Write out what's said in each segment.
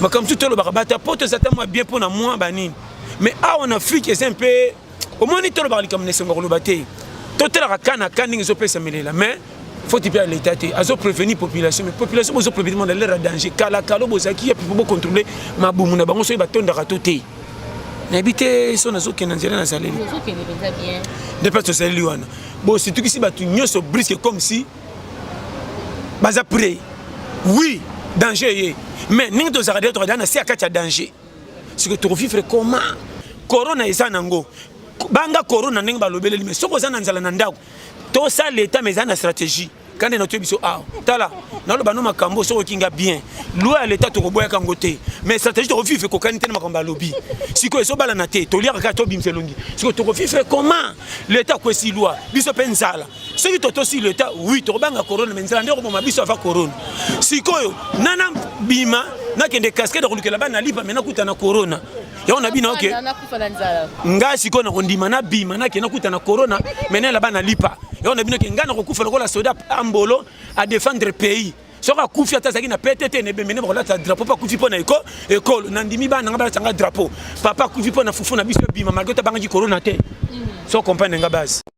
makambo mosusu tolobaka bato ya poto eza ta mwa bien mpo na mwa banini mais awa na afrike eza mpe omoni tolobaka likambo na esengo ya koloba te totalaka ka na ka ndenge ezopesa melela mais foti mpe ya leta te azo prévenir population mais population bozo prévenir na lere ya danger kala kalo bozalaki ya pipo bocontrôle mabumu na bango soki batondaka to te nayebi te so nazokenda nzela nazaleli nde mpe tozaleli wana bositukisi bato nyonso briske comme si baza près oui danger eye mais ndenge tozalaka deja tokadala na se ya kati ya danger sikoyo tokovivre koma korona eza nango banga korona ndenge balobeleli me soki oza na nzala na ndako tosa leta me eza na stratégie kande natoye biso awa tala naloba no makambo soki okinga bien lwa ya leta tokoboyaka yango te mais stratégie tokovivre ekokani te na makambo alobi sikoyo ezobalana te toliaka kaka tobimisa elongi sikoyo tokovivre comment leta akwesi lwa biso mpe nzala soki totosi leta wi tokobanga corona me nzela nde okoboma biso ava corona sikoyo nana bima nakende cascade kolukela bana lipa me nakuta na corona yango na bino oke ngai sikoyo nakondima nabima nake nakuta na corona me nayela bana lipa yango na bino ke ngai nakokufa lokola soda ambolo a défendre pays soki akufi ata azalaki na pete te nebembe nde bakolata drapeau mpo akufi mpo na eko ekolo nandimi bana nga balatanga drapeau papa akufi mpo na fufu na biso ebima malgre tabangaki corona te so comprendre nga base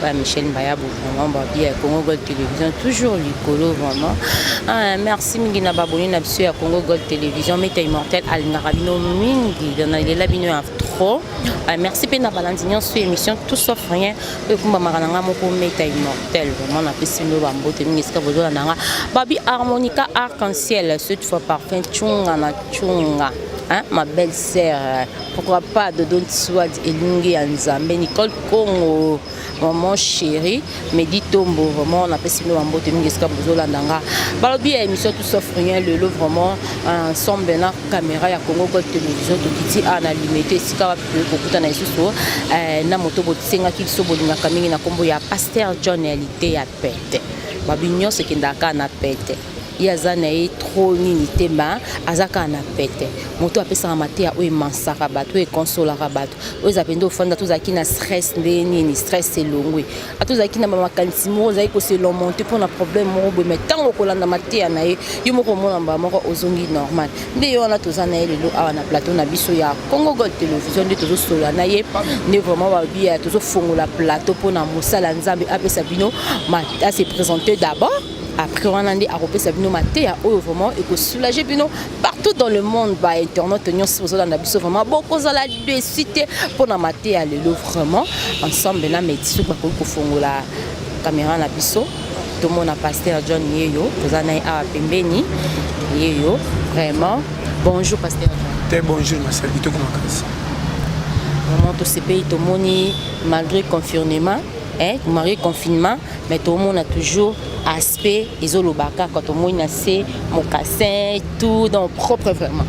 Ouais, Michel Mbayabu, vraiment, bah, bien, Congo Gold Télévision, toujours Licolo, vraiment. Ah, merci, mingi na baboni na biso ya Congo Gold Télévision, meta immortel alingaka bino mingi, na lela bino ya trop. Ah, merci mpe na balandi nyonso émission tout sauf rien oyo ekumbamaka na ngai moko meta immortel vraiment napesi bino bambote mingi esika bozolanda ngai babi harmonica arc en ciel cette fois parfum chunga na chunga hein, ma belle sœur Pourquoi pas de Don Swad Elungi ya Nzambe Nicole Congo maman chérie Medi Tombo vraiment na pesi bino mbote mingi esika bozolanda nga balobi ya émission tout sauf rien lelo vraiment ensemble na caméra ya Congo Gold Television tokiti a na limete esika wapi toyei kokutana lisusu eh, na moto botisengaki biso bolingaka mingi na nkombo ya Pasteur John Elite ya Pete babi nyonso ekendaka na Pete ye aza na ye tro nini te ma aza kaka na pete moto apesaka mateya oyo emansaka bato oyo ekonsolaka bato oyo eza mpenza ofanda tozalaki na stress ndenge nini stress elongwe a tozalaki na bamakanisi moko ozalaki koselomonte mpo na problème moko boye mai ntango okolanda mateya na ye yo moko omona mbala moko ozongi normal nde ye wana toza na ye lelo awa na plateau na biso ya congo gold television nde tozosolola na ye nde vraiment babiya tozofongola plateau mpo na mosala nzambe apesa bino ma ase présente d'abord après wana nde akopesa bino mateya oyo vraiment ekosoulage bino partout dans le monde ba internaute nyonso bozolanda biso vraiment bokozala desu te mpo na mateya lelo vraiment ensemble na medi soki bakoki kofongola kamera na biso tomona paster john yeyo toza na ye awa pembeni yeyo vraiment bonjour paster john te bonjour masali kitoko makasi vraiment tosepeli tomoni malgré confinement eh, malgré confinement mais tomona toujours aspect ezoloba kaka tomoni na se mokassin tout donc propre vraiment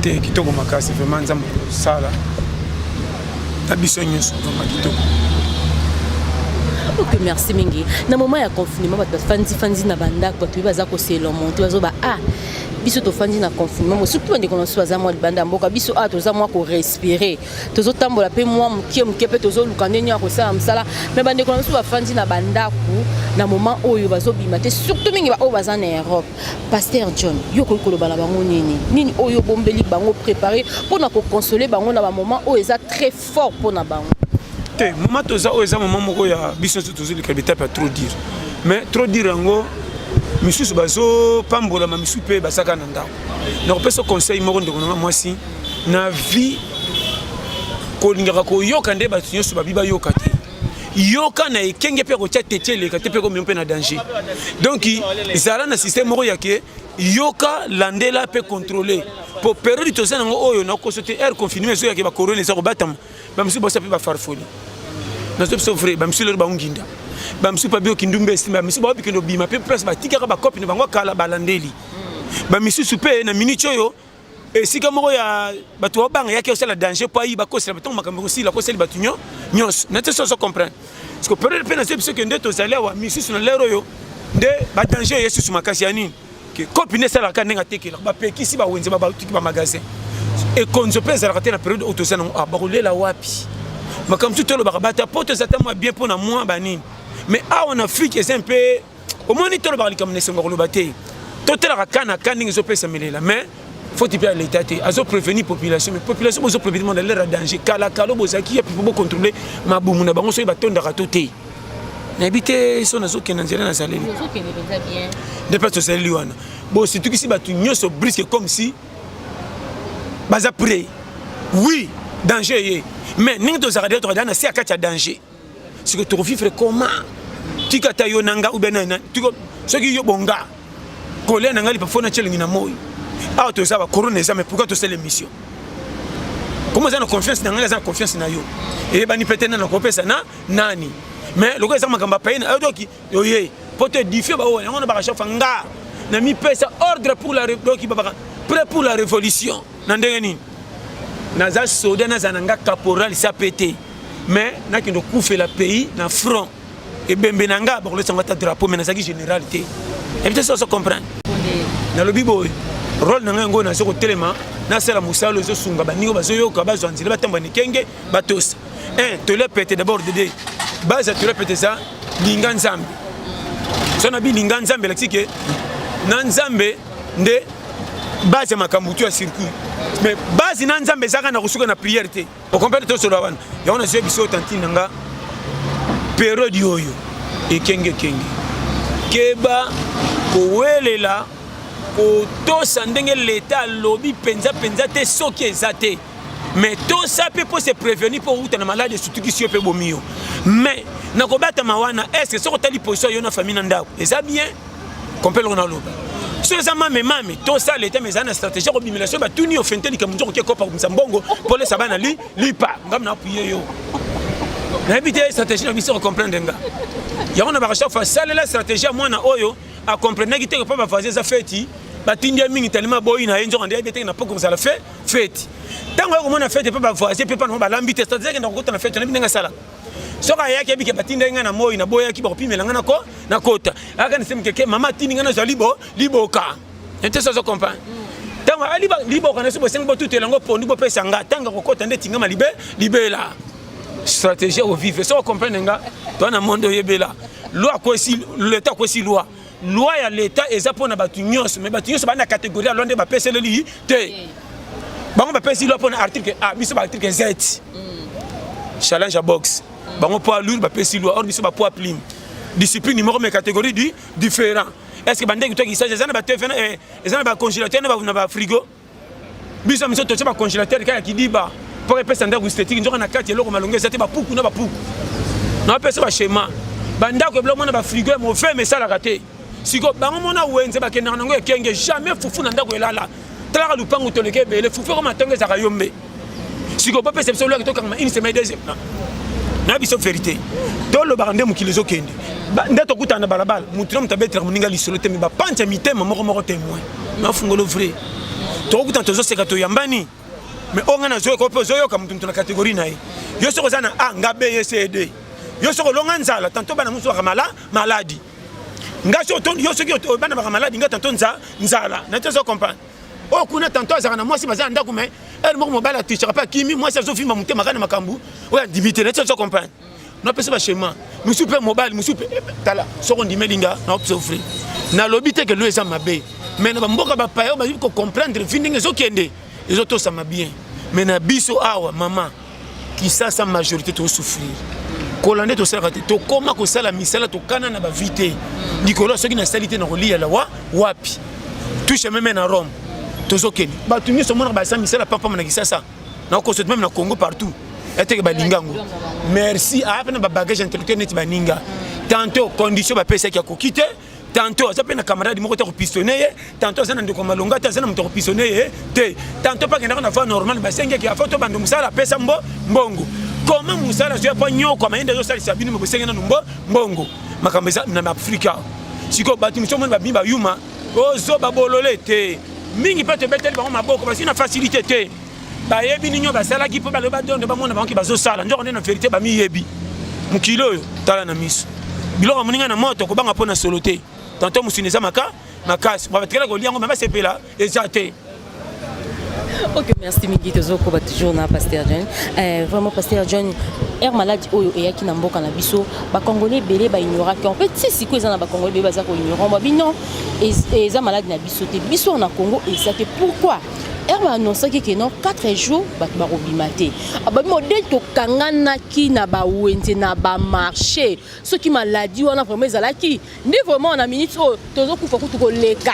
te kitoko makasi vraiment nzambe kosala na biso nyonso vraiment kitoko ok merci mingi na moment ya confinement bato bafandifandi na bandako bato baza kosela monte bazoba a ah, biso tofandi na confinement surtout bandeko na biso baza mwa libanda ya mboka biso awa ah, toza mwa korespire tozotambola mpe mwa moke moke mpe tozoluka ndenge ya kosala mosala me bandeko na biso bafandi na bandako na moment oyo bazobima te surtout mingi baoyo baza na europe paster john yo okoki koloba na bango nini nini oyo obombeli bango prépare mpo na kokonsole bango na bamoment oyo eza très fort mpo na bango te moment toza oyo eza moment moko ya biso nyonso tozolika betape ya trop dire mais trop dire yango misusu bazopambolama misusu mpe basaka na ndako nakopesa conseil moko ndeko nanga mwasi na vie kolingaka koyoka nde bato nyonso babi bayoka te yoka na ekenge mpe akotya tete eleka te mpe komema mpe na danger donc zala na système moko ya ke yoka landela mpe contrôle mpo periode toza nango oyo nakoso te aire confinement ezo yake bacorona eza kobatama bamisusu bosa mpe bafarfoli nazo biso vrai bamisusu lelo baonginda bamisusu mpe biyoki ndumba esimba bamisusu baobikende obima mpe place batikaka bakopi na bango kala balandeli bamisusu mpe na minute oyo esika moko ya bato babanga yaki osala danger mpo ayiba akosela ntango makambo ekosila akoseli bato nyo nyonso na te soso comprendre parceke periode mpe nazo biso ke nde tozali awa misusu na lere oyo nde badanger eye susu makasi ya nini ke kopi nde esalaka ndenge atekelaka bapekisi bawenze babatuki bamagasin ekonzo mpe ezalaka te na periode oyo toza nango ah, bakolela wapi makambo tu tolobaka bata mpo toza ta mwa bien mpo na mwa banini mais awa na afrike eza mpe omoni tolobaka likambo na esengo koloba te totalaka ka na ka ndenge ezopesa melela mais foti mpe ya leta te azo prévenir population mais population bozo prévenir mona lera danger kala kalo bozalaki ya pipo bocontrôle mabumu na bango soki batondaka to te nayebi te so nazokenda nzela nazaleli nde mpe tozaleli wana bositukisi bato nyonso briske comme si baza près oui danger eye mais ndenge tozalaka detoka na se ya kati ya danger siko toko vivre comment tika ta yo nanga ou bien na tiko soki yo bonga kolia nanga lipa fona chelingi na moyi awa toza ba corona eza mais pourquoi to sala émission comment eza na confiance na ngai eza na confiance na yo eyebani peut-être na nakopesa na nani mais lokola eza makambo ya paye na yo doki oye po to édifie ba oyo yango na baka chafa nga na mi pesa ordre pour la doki ba baka prêt pour la révolution na ndenge nini naza soda naza na nga caporal sa pete mais nakende okufela pays na front ebembe na nga bakolesa nga ata drapeau mais nazalaki général te ebite soso comprendre nalobi boye role na ngai yango naza kotelema nasala mosala oyo ezosunga baninga bazoyoka bazwa nzela batambwa nikenge batosi eh, tole pete d'abord dede base ya tole pete eza linga nzambe so na bilinga nzambe elakisi ke na nzambe nde base ya makambo tu ya circuit mais base na nzambe ezaka na kosuka na prière te okomprendre tosolola wana yango nazoya biso tantine na nga periode oyo ekengekenge keba kowelela kotosa ndenge leta alobi mpenza mpenza te soki eza te mais tosa mpe mpo se prévenir mpo outa na maladi esutukisi yo mpe bomi yo mais na kobatama wana est ce que soki otali position yo na famille na ndako eza bien kompe eloko naloba so eza mame mame tosa leta mais eza na stratégie ya kobimela so batuni yo fente likambo nzoko oke kopa komisa mbongo mpo olesa bana li lipa ngam na apuye yo nayebi te stratégie na biso kocomprendre nga yango na baka chaque fois salela stratégie ya mwana oyo akomprenaki te mpo bavoisin eza feti batindi ye mingi talima boyi na ye nzoko nde yebi te na mpo kozala fe feti ntango ya komona feti mpe bavoyage mpe mpana balambi te cetadire kenda kokota na feti nayebi ndenge asalaka soki ayaki abike batindaki ngai na moi naboyaki bakopimela ngai nako nakota ayaka nase mokeke mama atindi ngai nazwa libo liboka ete sozo comprendre ntango ali liboka na so bosengi botutela yango pondu bopesa ngai ntango akokota nde tingama libe libela stratégie ovive soki okomprendre nga toa na monde oyebela loi akwesi leta akwesi loi loi ya leta eza mpo na bato nyonso me bato nyonso baa na kategorie ya loi nde bapeseleli te bango bapesi loi mpo na article a biso baarticle z mm. challenge ya box mm. bango poids lourd bapesi loi or biso bapoids plume discipline moko me catégorie du différent est ce que bandeki to kisasa eza na ba tv eh, eza na ba congélateur na ba frigo biso miso totie bacongélateur kaka kidiba mpo epesa ndako estetike nzoka na kati eloko malonga eza te bapuku na bapuku napesa bashema bandako ebila omona bafrigo ya mofeme esalaka te siko bango mona wenze bakendaka nango ekenge jamais fufu na ndako elala talaka lupangu toleka ebele fufu ekoma ntongo ezaka yo mbe sikoyo bopesa biso lwaki tokangama une semaine deuxième na biso verité tolobaka nde mokili ezokende nde tokutana na balabala motu na moto abetelaka moninga lisolo te me bapanza mitema moko moko temoin nafungolo vrai tokokutana tozoseka toyambani me oyo ngai nazoyoka oyo mpe ozoyoka motu motu na kategori na ye yo soki oza na a nga b ye c d yo soki olonga nzala tanto bana mosusu baka mala maladi nga yo soki obana baka maladi nga tanto nzala na te ozo comprendre oyo kuna tanto azalaka na mwasi baza na ndako mai heure moko mobali atichaka mpe akimi mwasi azofimba motema kaka na makambo oyo andimi te neti ozo comprendre napesa bachema mosusu mpe mobali mosusu mpe eh, tala soko ondimeli nga naopsofri nalobi te ke lo eza mabe mai na bamboka bapaya oyo bayebi kocomprendre vi ndenge ezokende ezotosama bien mai na biso awa mama kisasa majorité to souffrir kola nde tosalaka te tokoma kosala misala tokana na bavi te likolo ya soki nasali te na koliya lawa wapi tushe meme na rome tozokende bato nyonso omonaka basala misala pampama na kisasa na kosote meme na congo partout eteke balinga yango merci aya mpe na babagage intellectuel neti baninga tanto condition bapesaki akoki te tanto aza mpe na camarade moko te akopistone ye tanto aza na ndeko ya malonga te aza na moto akopistone ye te tanto mpe akendaka na voie normale basengeki afo to bando mosala apesa mbo mbongo koma mosala azwi apa nyoko mayende azosalisa bino me bosenge nanu mbo mbongo makambo eza na afrika sikoyo bato mosusu omoni babimi bayuma ozoba bolole te mingi mpe tobeteli bango maboko bazwi na facilité te bayebi nini oyo basalaki mpo balobi badondo bamona bango ke bazosala nzoko nde na verité bamiyebi mokili oyo tala na miso biloko moninga na moto kobanga mpo na solo te tanto mosuni eza maka makasi batikala kolia yango me basepela eza te ok merci mingi tozokoba toujours na pasteur john euh, vraiment pasteur john aire maladi oyo eyaki na mboka na biso bacongolais ebele baignoraki en fait si sikoyo eza na bacongolais ebele baza koignorant babi non eza maladi na biso te biso na congo eza te pourquoi heure ba annonçaki que non 4 jours bato bakobima te ababi modele tokanganaki na bawenze na bamarché soki maladi wana vraiment ezalaki nde vraiment na minute oyo tozokufa kutu koleka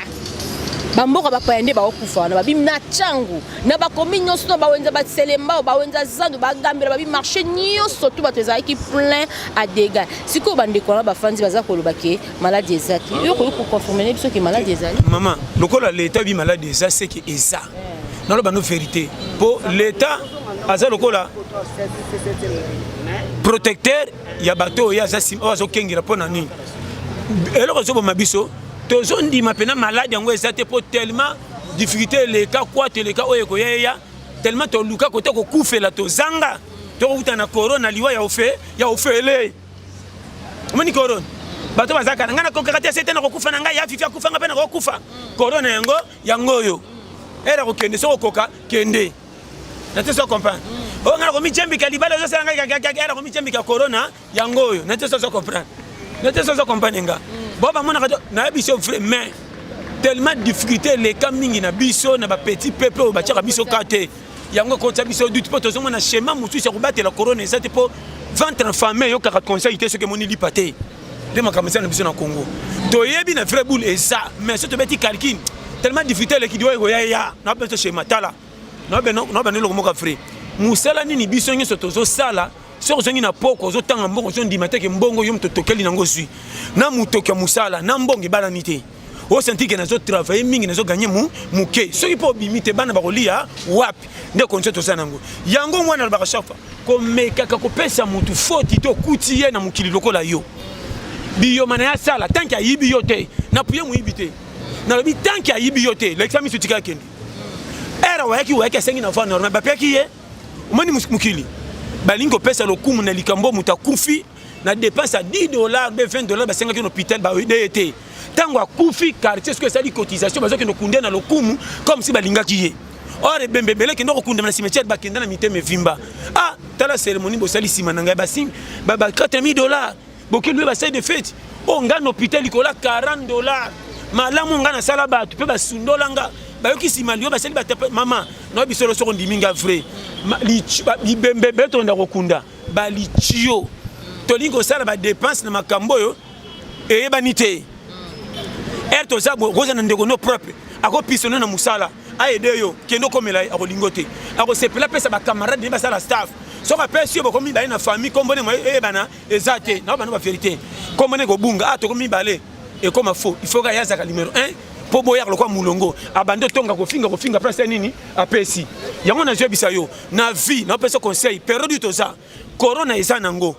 bamboka bapaya nde baokufa wana babimi na ntango na bakomi nyonso na bawenza baselembao bawenza zandu bagambela babi marché nyonso to bato ezalaki plein a dega sikoyo bandeko wana bafandi baza koloba ke maladi eza te yo okoki koconfirmene biso ke maladi ezali mama lokola leta oyebi maladi eza seke eza naloba no verité mpo leta aza lokola protecteur ya bato oyo oyo azokengela mpo na nini eloko ezoboma biso tozondima mpena maladi yango eza te mpo tellement difficulté eleka kwate eleka oyo ekoya eya tellement toluka kota kokufela tozanga tokokutana na corona liwa ya ofele omoni corona bato bazalaka na ngai nakokaka te sete nakokufa na ngai ya fifi akufa ngai mpe nakokufa corona yango yango oyo ere akokende soki okoka kende na te so comprendre mm. oyo ngai nakomijembika libala ezosala ngai kakakaka nakomijembika corona yango oyo na te so so comprendre na te so so comprendre nga mm. bo bamonaka to nayebisi yo vrai mais tellement difficulté eleka mingi na biso na bapetit peuple oyo batiaka biso ka te yango ekotya biso doute mpo tozomona schéma mosusu ya kobatela corona eza te mpo ventre infame eyokaka conseil te soki emoni lipa te nde makambo eza na biso na congo toyebi na vrai boule eza mais so tobeti calcul tellement difficulté eleki diwa ekoya ya na biso schéma tala na bana eloko moko vrai mosala nini biso nyonso tozosala soki ozongi na poko ozotanga mbongo ozondima te ke mbongo yo moto tokeli nango ozwi na motoki ya mosala na mbongo ebalani te osanti ke nazo travaille mingi nazo gagner mu muke soki mpo obimi te bana bakolia wapi nde konso toza nango yango mwana alobaka chaque fois komekaka kopesa motu foti to okuti ye na mokili lokola yo biyoma na ye asala tanke ayibi yo te napuye moyibi te nalobi tanke ayibi yo te lekisa miso tika akende era wayaki wayaki asengi na va normal bapeki ye omoni mokili balingi kopesa lokumu na likambo moto akufi na dépense ya 10 dollars mpe 20 dollars basengaki na hôpital baide ye te ntango akufi quartier soki esali cotisation bazokende kunde na lokumu comme si balingaki ye or ebembe ebele kende kokundama na cimetière bakenda na mitema evimba ah tala cérémonie bosali nsima na ngai basing ba 4000 dollars bokende basali de fete oyo oh, ngai na hôpital likolo ya 40 dollars malamu ngai nasala bato mpe basundola nga bayoki nsima liyo basali batape mama nayebi solo soko ondimi nga vrai libembe ebele tokenda kokunda balitio tolingi kosala badepense na makambo oyo eyebani te ere toza boye okozala na ndeko no propre akopisone na mosala aede yo kende okomela ye akolingo te akosepela apesa bacamarade naye basala staff soki apesi yo bokomi mibale na famille nkombo ndenge eyebana eza te nao bana baverité nkombo ndenge kobunga a ah, tokomi mibale ekoma faux il faut kaya azaka numero 1 mpo boyaka lokwa molongo abandi otonga kofinga kofinga place ya nini apesi yango nazoyebisa yo na vie na pesa conseil periode toza corona eza nango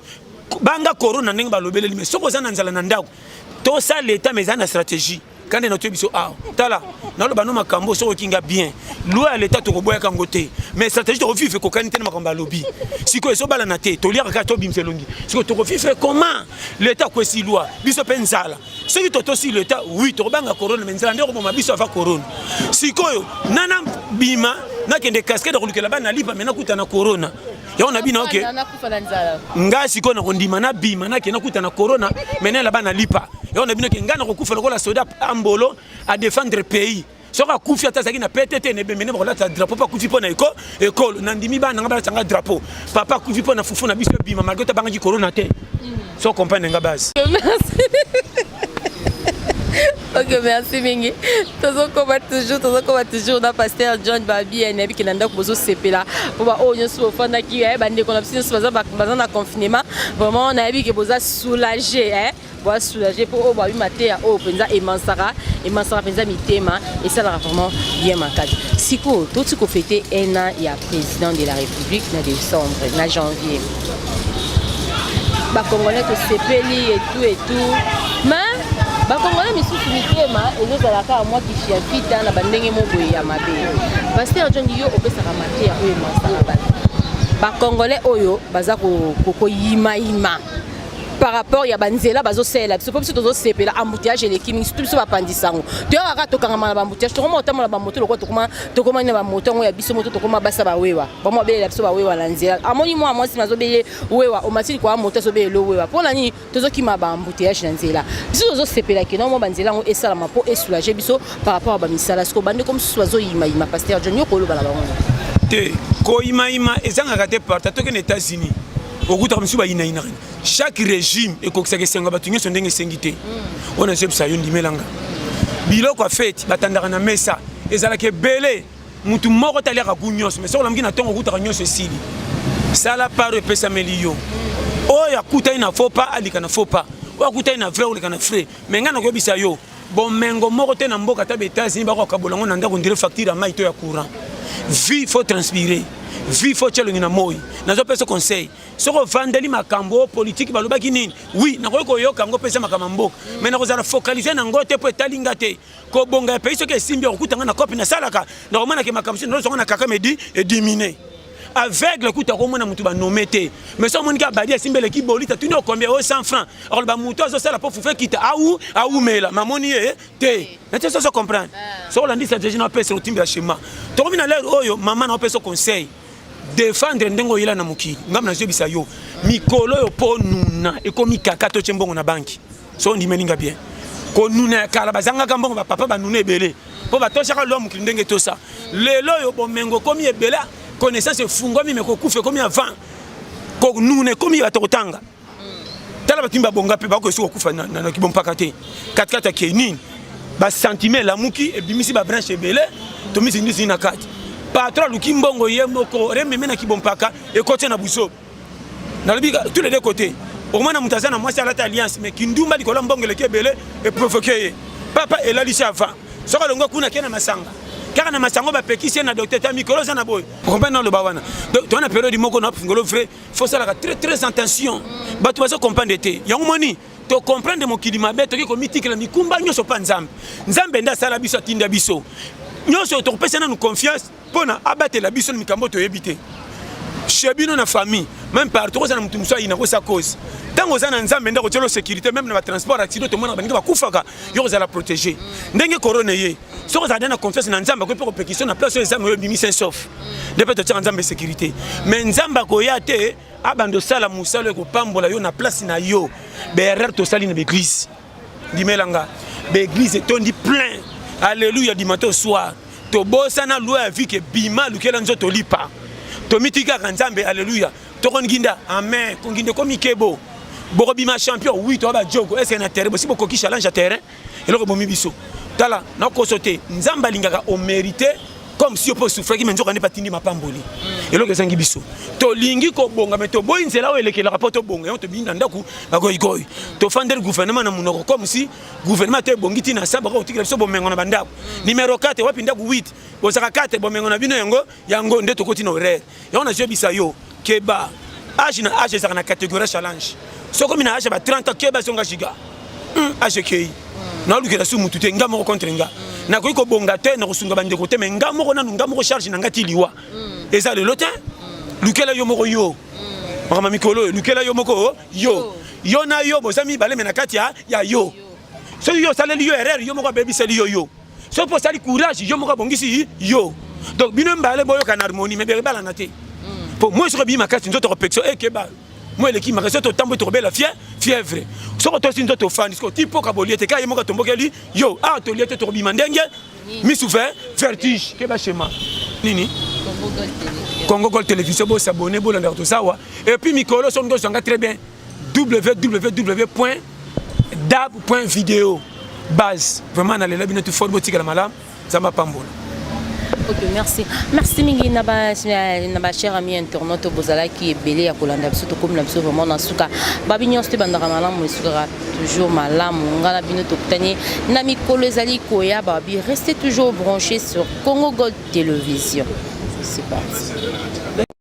banga corona ndenge balobeleli mais soki oza na nzala na ndako tosala leta mais eza na stratégie kande na toye biso awa ah, tala naloba no makambo soki okinga bien loi ya leta tokoboyaka yango te mais stratégie tokovive ekokani te na makambo alobi sikoyo ezobalana te toliaka kaka tobimisa elongi sikoyo tokovive comment leta akwesi loi biso mpe nzala soki totosi leta wi tokobanga corona me nzela nde okoboma biso ava corona sikoyo nana bima nakende cascade kolukela bana lipa me nakuta na corona yango na bino oke ngai sikoyo nakondima nabima nake nakuta na corona me nayela bana lipa yango na bino ke ngai nakokufa lokola soda ambolo adefendre pays soki akufi ata azalaki na pete te na ebembe nde bakolata drapeau mpo akufi mpo na eko ekolo nandimi bana nanga balata ngai drapeau papa akufi mpo na fufu na biso ebima malgre tabangaki corona te so comprendre nga base ok merci mingi tozokoma toujours tozokoma toujours na pasteur john babi nayebi ke na ndako bozosepela mpo baoyo oh, nyonso bofandaki eh, bandeko na biso nyonso baza na confinement vraiment nayebi ke boza soulage eh. boa soulager mpo oyo babi mateya oyo mpenza emansaka emansaka mpenza mitema esalaka vraiment bien makasi sikoyo toti kofete un an ya président de la république na décembre na janvier bakongolais tosepeli etu etu mais bakongole misusu mitema ezozala kaka mwa kifiafita na bandenge moboye ya mabe paster john yo opesaka mateya oyo emasaka bato bakongole oyo baza koyimayima ko par rapport ya banzela bazosalela biso mpo biso tozosepela embouteillage eleki mingi surtout biso bapanzi sango toyaka kaka tokangama na baembouteillage tokoma kotambola bamoto lokola tokoma tokoma na bamoto yango ya biso moto tokoma basa bawewa bamo abelela biso bawewa na nzela amoni mwa mwasi nazobele wewa omatili kwa moto azobelele wewa mpo na nini tozokima baembouteillage na nzela biso tozosepela ke nao mwa banzela yango esalama mpo esoulage biso par rapport ya bamisala siko bandeko mosusu bazoyimayima paster john yo koloba na bango te koyimayima ezangaka te parta tokende états-unis okutaka misusu bayinayinaka chaque régime ekokisaka esengo ya bato nyonso ndenge esengi te hmm. oyo nazebisa yo ndimelanga biloko ya feti batandaka na mesa ezalaka ebele motu moko te aliaka gu nyonso mai soki olamuki na ntongo okutaka nyonso esili sala paro epesameli yo oyo akutani na faux pas alika na faux pas oyo akutani na vrai oleka na frais me ngai nakoyebisa yo Bomengo moko te na mboka ata ba Etats-Unis bako kabola ngo na ndako ndire facture ya mai to ya courant. Vie faut transpirer. Vie faut chelongi na moi. Nazo pesa conseil. Soko vandeli makambo politique balobaki nini? Oui, nakoki koyoka ngo pesa makambo mboka. Mais nakozala focaliser na ngo te po etali nga te. Ko bonga ya pays soki esimbi okutanga na cop na salaka. Nakomana ke makambo sino zonga na kaka medi et diminuer. aveugle kutu akomona motu banome te mais so omoniki abadi asimbi eleki bolita tuni okombi oyo 100 franc akoloba motu azosala mpo fufe kita au aumela mamoni ye te nati soso comprendre ah. so olandisa jeje na opesa otimbela shema tokomi na lere oyo mama na opesa conseil defendre ndenge oyela na mokili ngambo nazoyebisa yo mikolo oyo mpo nuna ekomi kaka totye mbongo na banki so ondimeli nga bien konuna ya kala bazangaka mbongo bapapa banuna ebele mpo batosaka lwa mokili ndenge tosa lelo oyo bomengo ekomi ebele connaissance efungwami me kokufa ekomi avant konuna ekomi bato kotanga tala bato mimi babonga mpe bakoki kokufa na kibompaka te katikati ya kenini basentime elamuki ebimisi babranche ebele tomizindisi na kati patro aluki mbongo ye moko rememe na kibompaka ekoti na buzoba nalobi tous les deux côtés okomona moto aza na mwasi alata alliance mais kindumba likolo ya mbongo eleki ebele eprovoke ye papa elalisi avant soki alongo kuna ke na masanga kaka na masanga bapekisi ye na docteur ta mikolo oza na boye okomprendre naloba wana donc toza na periode moko na fingolo vrai faut salaka très très attention bato bazo comprendre te yango moni tocomprendre mokili mabe toki komitikela mikumba nyonso mpa nzambe nzambe nde asala biso atinda biso nyonso tokopesa nanu confiance pona abatela biso na mikambo toyebi te chez bino na famille même partout oza na moto mosusu ayina kosa cause ntango oza na nzambe nde akotyelo sécurité même na batransport accident tomonaka baninga bakufaka yo kozala protégé ndenge corona eye soki ozala nde na confiance na nzambe akoki mpe kopekisa na place oyo ezanga oyo ebimi saint sauf nde mpe totyaka nzambe sécurité mais nzambe akoya te abanda osala mosala oyo ekopambola yo na place na yo baerreur tosali na baeglise ndimela nga ba eglise etondi plein alleluia du matin au soir tobosana loi ya vie ke bima lukela nzoto lipa tomitikaka nzambe alleluia tokonginda amen konginda ekomi kebo bokobima champion wi toya bajogo ese na terrain bosi bokoki challenge ya terrain eloko bomi biso tala nakoso te nzambe alingaka omerite comme si yo mpe osufraki me nzoka nde batindi mapamboli mm. eloko ezangi biso tolingi kobonga me toboyi nzela oyo elekelaka mpo tobonga yango tobindi na ndako bagoigoi tofandeli gouvernement na monoko comme si gouvernement to ebongi ntina sa bako kotikela biso bomengo na bandako mm. numero 4 wapi ndako 8 bozaka 4 bomengo na bino yango yango nde tokoti na horaire Yango na yebisa yo keba age na age ezaka na catégorie challenge. Soko mina age ba 30 ans keba songa giga. Hum age kei. Hmm. Na lukela su mutu te nga moko contre nga. Hmm. Na koyi ko bonga te na kosunga bande ko te mais nga moko nanu nga moko charge na nga ti liwa. Hmm. Eza le lotin. Lukela yo moko yo. Makama mikolo lukela yo moko oh, yo. Yo na yo boza mibale me na kati ya yo. Soki yo osaleli yo erreur yo moko abebiseli yo yo. soki mpo osali courage yo moko abongisi yo donc bino mbale boyoka na harmonie me bekobalana te mpo moi soki ebii makasi nzoto kopekisa ekeba moi eleki makasi soki totamboli tokobela fie fièvre soki tosi nzoto ofandi soki oti mpoka bolie te kaka ye moko atombokeli yo awa ah, tolie te tokobima ndenge misu ve vertige keba shema nini congo gol télévision bosabone bolandaka tozawa epuis mikolo soki ndoso yanga très bien www.dab.video base vraiment nalela bino tu fort botikala malamu nzambe apambola Ok, merci. Merci mingi na ba na ba chers amis internautes bozalaki ebele ya kolanda biso tokomi na biso vraiment na suka. Ba bino nso bandaka malamu esukaka toujours malamu. Nga na bino tokutani na mikolo ezali koya ba bi restez toujours branchés sur Congo Gold Télévision. C'est parti.